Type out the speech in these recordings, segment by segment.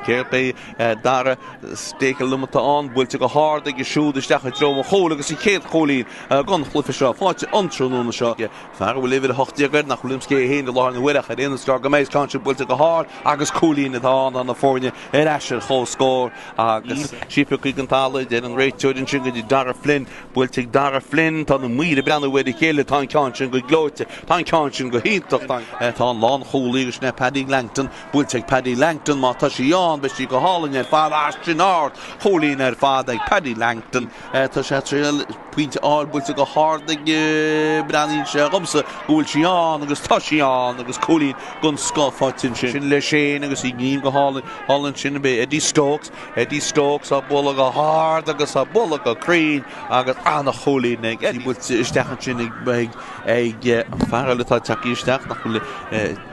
Céard é dara stake aluminum atá ann, buailte go hard aige siúd isteach i dtreo an chúil agus an chéad chúilín den chluiche seo faighte an tráthnóna seo ag fear a bhfuil uimhir a hocht déag air nach bhfuilim cé hé féin i láthair na huaire ach ar aon nós is dóigh go mbeidh ceann sin buailte go hard agus cúilín atá ann tá na foirne ar ais ar chomhscór agus scuabtha chuig an talamh, deir an réiteoir ansin go dtí Darragh Flynn, buailte ag Darragh Flynn, tá na maoir ag breathnú ar a chéile, tá an ceann sin go gleoite, tá an ceann sin go hiontach, tá an lánchúlaí agus sin é Paddy Langton, Buailte ag Paddy Langton, má tá sí ann, beidh sí go hálainn ar fad, á sin ardchúilín ar fad ag Paddy Langton. Tá sé ag triail pointe a fháil buailte go hard aige, breathnaíonn sé dhomsa go bhfuil sí ann agus tá sí ann agus cúilín den scoth faighte ansin le sé agus é ag gníomhú go hálainn. Thall ansin beidh Eddie Stokes, Eddie Stokes á bualadh go hard agus á bualadh go cruinn agus an-chúilín ag Eddie buailte isteach ansin ag an fear eile atá ag teacht isteach nach bhfuil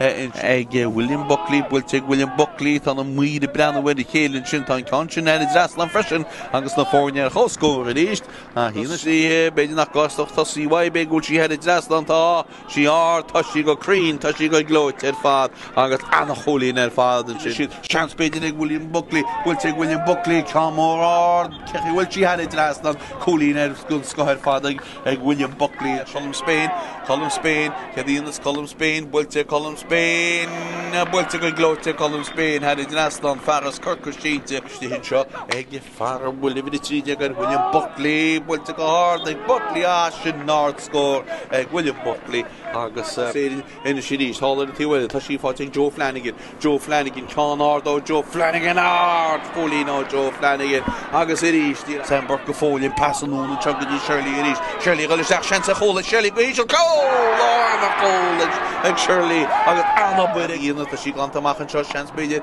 ag William Buckley, buailte ag William Buckley, tá na maoir ag breathnú ar a chéile ansin, tá an ceann sin thar an trasnán freisin agus na foirne ar chomhscór arís. Tá sí ina thréithe, b'fhéidir nach gcásfadh, tá sí uaidh, féach an bhfuil sí thar an trasnán, tá sí ard, tá sí go cruinn, tá sí go gleoite ar fad agus an-chúilín ar fad ansin. Seans b'fhéidir ag William Buckley, buailte ag William Buckley, ceann mór ard, féach an bhfuil sí thar an trasnán, cúilín den scoth ar fad ag. ag William Buckley ag Colm Spain, Colm Spain, céard a dhéanfas Colm Spain, buailte ag Colm Spain, buailte go gleoite ag Colm Spain, thar an trasnán, fearaibh Chorcaí, sínte, isteach anseo ag fear a bhfuil uimhir 13 air William Buckley, buailte go hard ag Buckley, ah sin ardscór ag William Buckley agus uh, Anois arís, thall ar an taobh eile, tá sí faighte ag Joe Flanagan. Joe Flanagan, ceann ard ó Joe Flanagan, ardchúilín ó Joe Flanagan agus arís di. Sam Burke go fóill, an pas anonn anseo go dtí Shirley arís. Shirley ag dul isteach, seans ar chúl ag, Shirley go híseal, cúl! Álainn an cúl ag Shirley agus an-obair á déanamh. Tá sí glanta amach anseo, seans b'fhéidir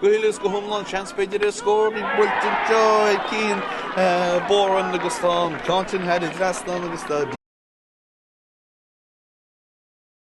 Go huile is go hiomlán, seans, b'fhéidir, ar scór buailte anseo ag Cian Boran agus tá an ceann sin thar an trasnán agus tá.